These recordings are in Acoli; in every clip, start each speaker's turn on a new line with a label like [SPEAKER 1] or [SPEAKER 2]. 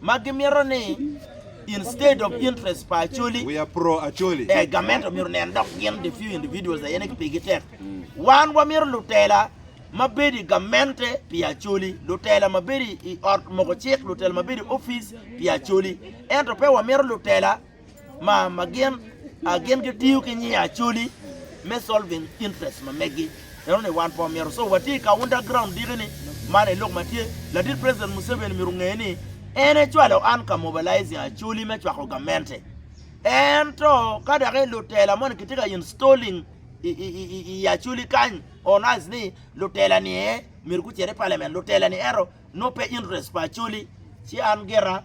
[SPEAKER 1] ma gimito ni instead of interest pa Acholi we are pro Acholi
[SPEAKER 2] eh government omyero nen
[SPEAKER 1] dok gin the few individuals aye ne pigi tek wan wamito lutela ma bedo i gamente pi Acholi lutela ma bedo i ot moko cik lutela ma bedo i office pi Acholi ento pe wamito lutela ma gin a gin gitiyo ki nying Acholi me solving interest ma megi. Eno ni wan po myero so watye i kaunta ground diki ni man aye lok ma tye. Ladit President Museveni myero onge ni en ecwalo an ka mobilizing Acholi me cwako gamente. Ento ka dok i lutela moni kitye ka installing i Acholi kany on us ni lutela ni aye myero gucit i parliament lutela ni ento nongo pe interest pa Acholi ci an gira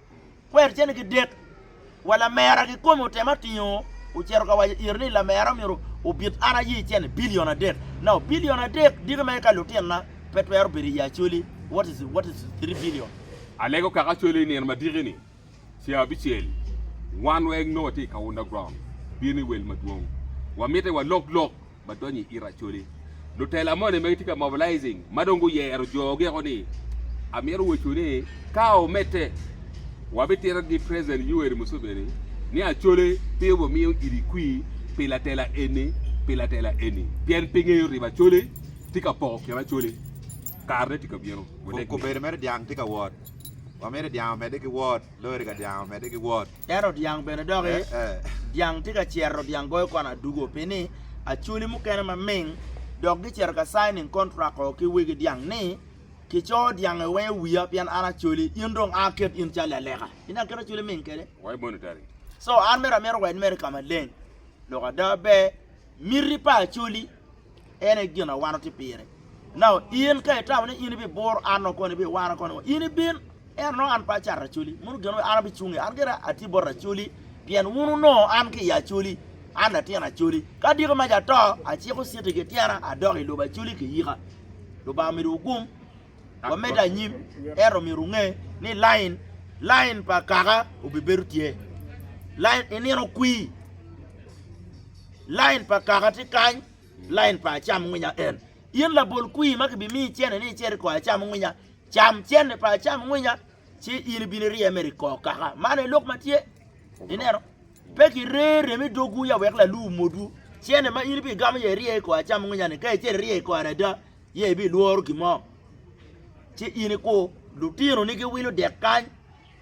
[SPEAKER 1] Kwer cene ki dek, wa lamera kikome otema tingo ocito ka waco ire ni lamera myero obit an aye cene billion adek. Now billion adek diki ma eka lutinna pe twero bedo iye Acholi what is what is three billion. Alego kaka
[SPEAKER 3] Acholi inino ma diki ni cee abicel wan weng nongo watye ikaunda ground bino iwel madwong wamite walok lok ma donyo i ite Acholi. Lutela moni ma gitye ka mobilizing ma dong guyero joo geko ni amito wecu ni ka omedde wabitito gi President Yoweri Museveni ni Acholi pe obumiyo iri kwir pi latela eni pi latela eni pien pe ngeyo riba Acholi tye ka poko kin Acholi kare ne tye ka bino. Kobedi mere dyang
[SPEAKER 2] tye ka wot. Wamito dyang omedde ki wot. Lori ka dyang omedde ki wot. Ento dyang bene
[SPEAKER 1] doki dyang tye ka cero dyang goyo kwan adugo pi ni acholi mukene ma ming dok gi cero ka signing contract o ki wegi dyang ni ki coo dyang i wenge wiya pien an acholi in dong a ket in cali aleka in dong aket acholi ming kede why monetary
[SPEAKER 3] so an mere
[SPEAKER 1] amito wed mere ka maleng lok ada ber miti pa acholi. En aye gin ma wan watye pire. Nao in ka itamo ni in ibibur an nongo koni, ibiwara koni ngo? In ibin, ento nongo an pe acato racoli. Mono gin ma an abicung iye? An gira atye bot racoli, pien wun wunongo an ki i acoli, an latin acoli. Ka diki maca ato, aciko citi ki tyena, adok i lobo acoli kiyika. Lubanga omidowu gum. wamed anyim, ento myero wunge ni lain lain pa kaka obibedo tye. Lain i nino kwir, lain pa kaka tye kany, lain pa acam ngwinya en. In labol kwir ma kibimiyi cene ni icer i kor acam ngwinya, cam cene pa acam ngwinya, ci in ibino irye mere i kor kaka. Man aye lok ma tye. Ineno? Pe kire rem i dogwu ya wek lalu omodwu. Cene ma in ibigamo iye irye i kor acam ngwinya-ni, ka icer irye i kore ada, Ye ibilworo gin mo? Ci in ikur, lutinoni giwilo dek kany,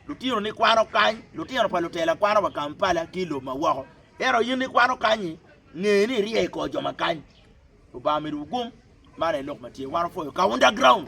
[SPEAKER 1] lutinoni kwano kany, lutino pa lutela kwano wa Kampala ki i lobo ma woko. Ento in ikwano kany-nyi, nge ni irye i kor jo ma kany. Lubanga omidowu gum. Man aye lok ma tye. Wan opwoyo ka underground.